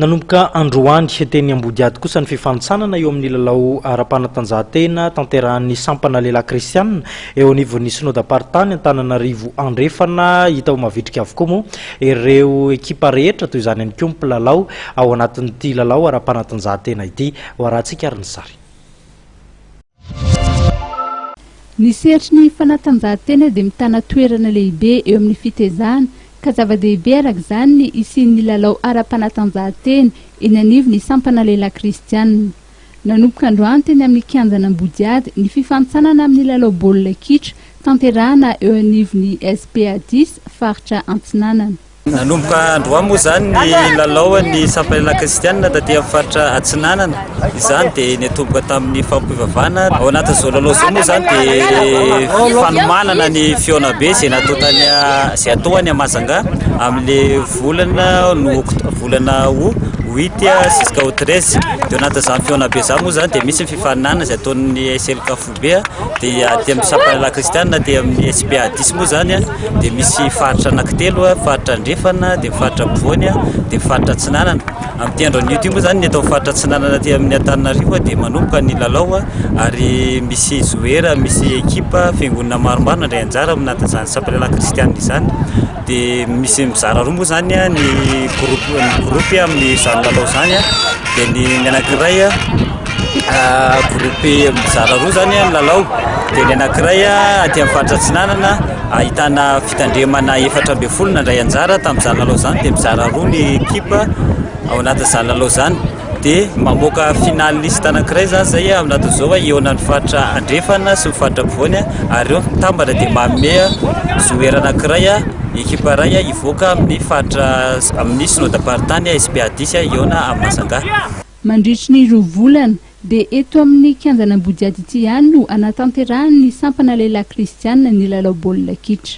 Nanomboka androany, teny Ambodiady kosa ny fifanintsanana eo amin'ny lalao ara-panatanjahantena tanterahan'ny sampana lehilahy kristianina eo anivon'ny Synodam-paritany Antananarivo Andrefana. Hita ho mavitrika avokoa moa ireo ekipa rehetra, toy izany ihany koa ny mpilalao ao anatin'ity lalao ara-panatanjahantena ity. Hoarahantsika ary ny sary. Ny sehatry ny fanatanjahantena dia mitana toerana lehibe eo amin'ny fitezana ka zava-dehibe araka izany ny hisian'ny lalao ara-panatanjahantena eny anivon'ny sampana lehilahy kristiana. Nanomboka androany teny amin'ny kianjan'Ambodiady ny fifantsanana amin'ny lalao baolina kitra tanterahana eo anivon'ny SPADIS faritra Antsinanana. Nanomboka androany moa izany ny lalaon'ny Sampalelà Kristianina taty amin'ny faritra Atsinanana. Izany dia nitomboka tamin'ny fampivavahana. Ao anatin'izao lalao izao moa izany dia fanomanana ny fihaonambe izay natao tany izay atao any Mahajanga amin'ilay volana no volana ho huit jusqu'au treize. Dia ao anatin'izany fihaonambe izany moa izany dia misy ny fifaninanana izay ataon'ny SLKFUT. be dia aty amin'ny sampan'ny lahy kristianina aty amin'ny SPA 10 moa izany dia misy faritra anankitelo faritra andrefana dia faritra ampovoany dia faritra atsinanana amin'ity andro anio ity moa izany ny eto amin'ny faritra atsinanana aty amin'ny Antananarivo dia manomboka ny lalao ary misy joueur misy équipe fiangonana maromaro nandray anjara amin'ny nahatonga izany sampan'ny lahy kristianina izany Dia misy mizara roa moa izany ny groupe ny groupe amin'izany lalao izany a, dia ny ny anankiray a groupe mizara roa izany ny lalao, dia ny anankiray aty amin'ny faritra Atsinanana ahitana fitandremana efatra ambin'ny folo nandray anjara tamin'izany lalao izany, dia mizara roa ny ekipa ao anatin'izany lalao izany. dia mamoaka final liste anankiray zany zay eh, amin'aton'izao hoe hihaona ny faritra andrefana sy ny faritra ampovoany eh, ary ireo mitambana dia manome joueur anankiray eh, ekipa iray eh, hivoaka amin'ny faritra amin'ny synodam-paritany SPA 10 hihaona amin'ny Massangaha. Mandritry ny roa volana dia eto amin'ny kianjan' Ambodiady ity ihany no hanatanterahan'ny sampana lehilahy kristiana ny lalao baolina kitra.